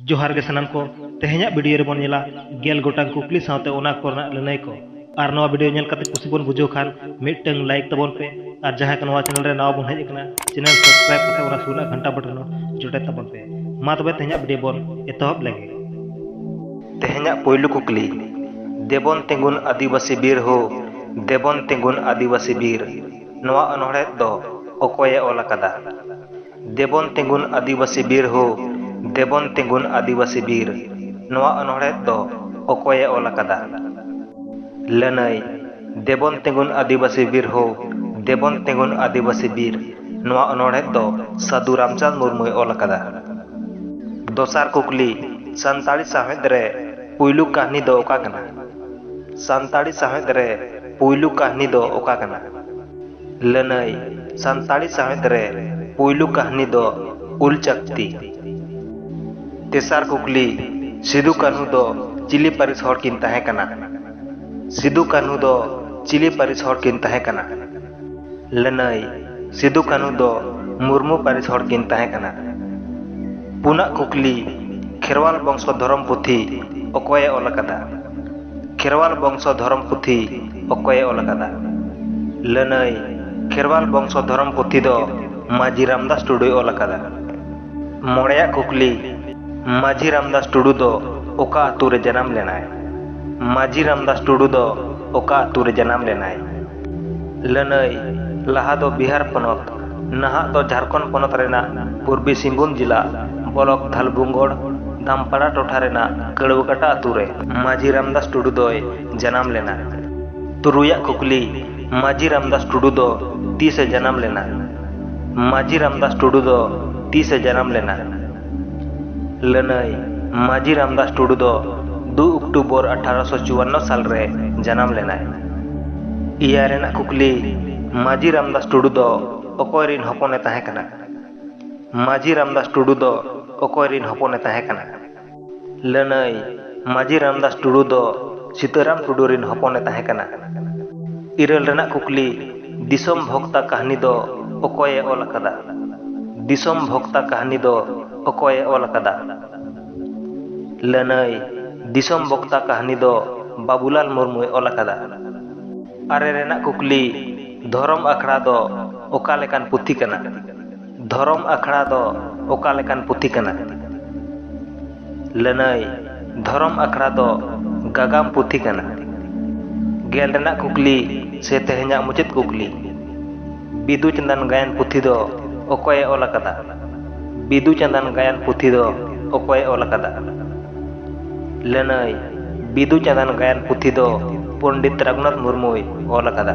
ᱡᱚᱦᱟᱨ ᱜᱮ ᱥᱟᱱᱟᱢ ᱠᱚ ᱛᱮᱦᱮᱧᱟᱜ ᱵᱷᱤᱰᱤᱭᱳ ᱨᱮᱵᱚᱱ ᱧᱮᱞᱟ ᱜᱮᱞ ᱜᱚᱴᱟᱝ ᱠᱩᱠᱞᱤ ᱥᱟᱶᱛᱮ ᱚᱱᱟ ᱠᱚᱨᱮᱱᱟᱜ ᱞᱟᱹᱱᱟᱹᱭ ᱠᱚ ᱟᱨ ᱱᱚᱣᱟ ᱵᱷᱤᱰᱤᱭᱳ ᱧᱮᱞ ᱠᱟᱛᱮ ᱠᱩᱥᱤ ᱵᱚᱱ ᱵᱩᱡᱷᱟᱹᱣ ᱠᱷᱟᱱ ᱢᱤᱫᱴᱟᱝ ᱞᱟᱭᱤᱠ ᱛᱟᱵᱚᱱ ᱯᱮ ᱟᱨ ᱡᱟᱦᱟᱸᱭ ᱠᱚ ᱱᱚᱣᱟ ᱪᱮᱱᱮᱞ ᱨᱮ ᱱᱟᱣᱟ ᱵᱚᱱ ᱦᱮᱡ ᱟᱠᱟᱱᱟ ᱪᱮᱱᱮᱞ ᱥᱟᱵᱥᱠᱨᱟᱭᱤᱵ ᱠᱟᱛᱮ ᱚᱱᱟ ᱥᱩᱨ ᱨᱮᱱᱟᱜ ᱜᱷᱟᱱᱴᱟ ᱵᱚᱴᱚᱱ ᱦᱚᱸ ᱡᱚᱴᱮᱫ ᱛᱟᱵᱚᱱ ᱯᱮ ᱢᱟ ᱛᱚᱵᱮ ᱛᱮᱦᱮᱧᱟᱜ ᱵᱷᱤᱰᱤᱭᱳ ᱵᱚᱱ ᱮᱛᱚᱦᱚᱵ ᱞᱮᱜᱮ ᱛᱮᱦᱮᱧᱟᱜ ᱯᱳᱭᱞᱳ ᱠᱩᱠᱞᱤ ᱫᱮᱵᱚᱱ ᱛᱤᱸᱜᱩᱱ ᱟᱹᱫᱤᱵᱟᱹᱥᱤ ᱵᱤᱨ ᱦᱳ ᱫᱮᱵᱚᱱ ᱛᱤᱸᱜᱩᱱ ᱟᱹᱫᱤᱵᱟᱹᱥᱤ ᱵᱤᱨ ᱱᱚᱣᱟ ᱚᱱᱚᱲᱦᱮᱫ ᱫᱚ ᱚᱠᱚᱭᱮ ᱚᱞ ᱟᱠᱟᱫᱟ ᱫᱮᱵᱚᱱ ᱛᱤᱸᱜᱩᱱ ᱟᱹᱫᱤᱵᱟᱹᱥᱤ ᱵᱤᱨ ᱦᱳ ᱫᱮᱵᱚᱱ ᱛᱤᱸᱜᱩᱱ ᱟᱹᱫᱤᱵᱟᱹᱥᱤ ᱵᱤᱨ ᱱᱚᱣᱟ ᱚᱱᱚᱬᱦᱮᱫ ᱫᱚ ᱚᱠᱚᱭ ᱮ ᱚᱞ ᱟᱠᱟᱫᱟ? ᱞᱟᱹᱱᱟᱹᱭ, ᱫᱮᱵᱚᱱ ᱛᱤᱸᱜᱩᱱ ᱟᱹᱫᱤᱵᱟᱹᱥᱤ ᱵᱤᱨ ᱦᱳ ᱫᱮᱵᱚᱱ ᱛᱤᱸᱜᱩᱱ ᱟᱹᱫᱤᱵᱟᱹᱥᱤ ᱵᱤᱨ ᱱᱚᱣᱟ ᱚᱱᱚᱬᱦᱮᱫ ᱫᱚ ᱥᱟᱹᱫᱷᱩ ᱨᱟᱢᱪᱟᱸᱫᱽ ᱢᱩᱨᱢᱩᱭ ᱚᱞ ᱟᱠᱟᱫᱟ᱾ ᱫᱚᱥᱟᱨ ᱠᱩᱠᱞᱤ, ᱥᱟᱱᱛᱟᱲᱤ ᱥᱟᱶᱦᱮᱫ ᱨᱮ ᱯᱩᱭᱞᱩ ᱠᱟᱹᱦᱱᱤ ᱫᱚ ᱚᱠᱟ ᱠᱟᱱᱟ? ᱥᱟᱱᱛᱟᱲᱤ ᱥᱟᱶᱦᱮᱫ ᱨᱮ ᱯᱩᱭᱞᱩ ᱠᱟᱹᱦᱱᱤ ᱫᱚ ᱚᱠᱟ ᱠᱟᱱᱟ? ᱞᱟᱹᱱᱟᱹᱭ ᱥᱟᱱᱛᱟᱲᱤ ᱥᱟᱶᱦᱮᱫ ᱨᱮ ᱯᱩᱭᱞᱩ ᱠᱟᱹᱦᱱᱤ ᱫᱚ ᱩᱞ ᱪᱟᱠᱛᱤ᱾ ᱛᱮᱥᱟᱨ ᱠᱩᱠᱞᱤ, ᱥᱤᱫᱩ ᱠᱟᱹᱱᱦᱩ ᱫᱚ ᱪᱤᱞᱤ ᱯᱟᱹᱨᱤᱥ ᱦᱚᱲ ᱠᱤᱱ ᱛᱟᱦᱮᱸ ᱠᱟᱱᱟ? ᱥᱤᱫᱩ ᱠᱟᱹᱱᱦᱩ ᱫᱚ ᱪᱤᱞᱤ ᱯᱟᱹᱨᱤᱥ ᱦᱚᱲ ᱠᱤᱱ ᱛᱟᱦᱮᱸ ᱠᱟᱱᱟ? ᱞᱟᱹᱱᱟᱹᱭ ᱥᱤᱫᱩ ᱠᱟᱹᱱᱦᱩ ᱫᱚ ᱢᱩᱨᱢᱩ ᱯᱟᱹᱨᱤᱥ ᱦᱚᱲ ᱠᱤᱱ ᱛᱟᱦᱮᱸ ᱠᱟᱱᱟ᱾ ᱯᱩᱱᱟᱜ ᱠᱩᱠᱞᱤ, ᱠᱷᱮᱨᱣᱟᱞ ᱵᱚᱝᱥᱚ ᱫᱷᱚᱨᱚᱢ ᱯᱩᱛᱷᱤ ᱚᱠᱚᱭ ᱮ ᱚᱞ ᱟᱠᱟᱫᱟ? ᱠᱷᱮᱨᱣᱟᱞ ᱵᱚᱝᱥᱚ ᱫᱷᱚᱨᱚᱢ ᱯᱩᱛᱷᱤ ᱚᱠᱚᱭᱮ ᱚᱞ ᱟᱠᱟᱫᱟ ᱞᱟᱹᱱᱟᱹᱭ ᱠᱷᱮᱨᱣᱟᱞ ᱵᱚᱝᱥᱚ ᱫᱷᱚᱨᱚᱢ ᱯᱩᱛᱷᱤ ᱫᱚ ᱢᱟᱹᱡᱷᱤ ᱨᱟᱢᱫᱟᱥ ᱴᱩᱰᱩᱭ ᱚᱞ ᱟᱠᱟᱫᱟ ᱢᱚᱬᱮᱭᱟᱜ ᱠᱩᱠᱞᱤ ᱢᱟᱹᱡᱷᱤ ᱨᱟᱢᱫᱟᱥ ᱴᱩᱰᱩ ᱫᱚ ᱚᱠᱟ ᱟᱹᱛᱩ ᱨᱮ ᱡᱟᱱᱟᱢ ᱞᱮᱱᱟᱭ ᱢᱟᱹᱡᱷᱤ ᱨᱟᱢᱫᱟᱥ ᱴᱩᱰᱩ ᱫᱚ ᱚᱠᱟ ᱟᱹᱛᱩ ᱨᱮ ᱡᱟᱱᱟᱢ ᱞᱮᱱᱟᱭ ᱞᱟᱹᱱᱟᱹᱭ ᱞᱟᱦᱟ ᱫᱚ ᱵᱤᱦᱟᱨ ᱯᱚᱱᱚᱛ ᱱᱟᱦᱟᱜ ᱫᱚ ᱡᱷᱟᱨᱠᱷᱚᱸᱰ ᱯᱚᱱᱚᱛ ᱨᱮᱱᱟᱜ ᱯᱩᱨᱵᱤ ᱥᱤᱝᱵᱷᱩᱢ ᱡᱤᱞᱟ ᱵᱚᱞᱚᱠ ᱫᱷᱟᱞᱵᱷᱩᱝᱜᱚᱲ ᱫᱟᱢᱯᱟᱲᱟ ᱴᱚᱴᱷᱟ ᱨᱮᱱᱟᱜ ᱠᱟᱹᱲᱣᱟᱹᱠᱟᱴᱟ ᱟᱹᱛᱩ ᱨᱮ ᱢᱟᱹᱡᱷᱤ ᱨᱟᱢᱫᱟᱥ ᱴᱩᱰᱩ ᱫᱚᱭ ᱡᱟᱱᱟᱢ ᱞᱮᱱᱟ᱾ ᱛᱩᱨᱩᱭ ᱟᱜ ᱠᱩᱠᱞᱤ ᱢᱟᱹᱡᱷᱤ ᱨᱟᱢᱫᱟᱥ ᱴᱩᱰᱩ ᱫᱚ ᱛᱤᱥ ᱮ ᱡᱟᱱᱟᱢ ᱞᱮᱱᱟ? ᱢᱟᱹᱡᱷᱤ ᱨᱟᱢᱫᱟᱥ ᱴᱩᱰᱩ ᱫᱚ ᱛᱤᱥ ᱮ ᱡᱟᱱᱟᱢ ᱞᱮᱱᱟ? ᱞᱟᱹᱱᱟᱹᱭ ᱢᱟᱹᱡᱷᱤ ᱨᱟᱢᱫᱟᱥ ᱴᱩᱰᱩ ᱫᱚ ᱫᱩ ᱚᱠᱴᱩᱵᱚᱨ ᱟᱴᱷᱟᱨᱚᱥᱚ ᱪᱩᱣᱟᱱᱱᱚ ᱥᱟᱞ ᱨᱮ ᱡᱟᱱᱟᱢ ᱞᱮᱱᱟᱭ᱾ ᱮᱭᱟᱭ ᱨᱮᱱᱟᱜ ᱠᱩᱠᱞᱤ ᱢᱟᱹᱡᱷᱤ ᱨᱟᱢᱫᱟᱥ ᱴᱩᱰᱩ ᱫᱚ ᱚᱠᱚᱭ ᱨᱤᱱ ᱦᱚᱯᱚᱱ ᱮ ᱛᱟᱦᱮᱸ ᱠᱟᱱᱟ? ᱢᱟᱹᱡᱷᱤ ᱨᱟᱢᱫᱟᱥ ᱴᱩᱰᱩ ᱫᱚ ᱚᱠᱚᱭ ᱨᱤᱱ ᱦᱚᱯᱚᱱ ᱮ ᱛᱟᱦᱮᱸ ᱠᱟᱱᱟ? ᱞᱟᱹᱱᱟᱹᱭ᱾ ᱢᱟᱹᱡᱷᱤ ᱨᱟᱢᱫᱟᱥ ᱴᱩᱰᱩ ᱫᱚ ᱥᱤᱛᱟᱹᱨᱟᱢ ᱴᱩᱰᱩ ᱨᱤᱱ ᱦᱚᱯᱚᱱ ᱮ ᱛᱟᱦᱮᱸ ᱠᱟᱱᱟ᱾ ᱤᱨᱟᱹᱞ ᱨᱮᱱᱟᱜ ᱠᱩᱠᱞᱤ, ᱫᱤᱥᱚᱢ ᱵᱷᱚᱠᱛᱟ ᱠᱟᱹᱦᱱᱤ ᱫᱚ ᱚᱠᱚᱭ ᱮ ᱚᱞ ᱟᱠᱟᱫᱟ? ᱫᱤᱥᱚᱢ ᱵᱷᱚᱠᱛᱟ ᱠᱟᱹᱦᱱᱤ ᱫᱚ ᱚᱠᱚᱭ ᱮ ᱚᱞ ᱟᱠᱟᱫᱟ? ᱞᱟᱹᱱᱟᱹᱭ, ᱫᱤᱥᱚᱢ ᱵᱷᱚᱠᱛᱟ ᱠᱟᱹᱦᱱᱤ ᱫᱚ ᱵᱟᱵᱩᱞᱟᱞ ᱢᱩᱨᱢᱩ ᱮ ᱚᱞ ᱟᱠᱟᱫᱟ᱾ ᱟᱨᱮ ᱨᱮᱱᱟᱜ ᱠᱩᱠᱞᱤ, ᱫᱷᱚᱨᱚᱢ ᱟᱠᱷᱲᱟ ᱫᱚ ᱚᱠᱟ ᱞᱮᱠᱟᱱ ᱯᱩᱛᱷᱤ ᱠᱟᱱᱟ? ᱫᱷᱚᱨᱚᱢ ᱟᱠᱷᱲᱟ ᱫᱚ ᱚᱠᱟ ᱞᱮᱠᱟᱱ ᱯᱩᱛᱷᱤ ᱠᱟᱱᱟ ᱞᱟᱹᱱᱟᱹᱭ ᱫᱷᱚᱨᱚᱢ ᱟᱠᱷᱲᱟ ᱫᱚ ᱜᱟᱜᱟᱢ ᱯᱩᱛᱷᱤ ᱠᱟᱱᱟ ᱜᱮᱞ ᱨᱮᱱᱟᱜ ᱠᱩᱠᱞᱤ ᱥᱮ ᱛᱮᱦᱮᱧᱟᱜ ᱢᱩᱪᱟᱹᱫ ᱠᱩᱠᱞᱤ ᱵᱤᱫᱩ ᱪᱟᱸᱫᱟᱱ ᱜᱟᱭᱟᱱ ᱯᱩᱛᱷᱤ ᱫᱚ ᱚᱠᱚᱭᱮ ᱚᱞ ᱟᱠᱟᱫᱟ ᱵᱤᱫᱩ ᱪᱟᱸᱫᱟᱱ ᱜᱟᱭᱟᱱ ᱯᱩᱛᱷᱤ ᱫᱚ ᱚᱠᱚᱭᱮ ᱚᱞ ᱟᱠᱟᱫᱟ ᱞᱟᱹᱱᱟᱹᱭ ᱵᱤᱫᱩ ᱪᱟᱸᱫᱟᱱ ᱜᱟᱭᱟᱱ ᱯᱩᱛᱷᱤ ᱫᱚ ᱯᱚᱱᱰᱤᱛ ᱨᱟᱹᱜᱷᱩᱱᱟᱛᱷ ᱢᱩᱨᱢᱩᱭ ᱚᱞ ᱟᱠᱟᱫᱟ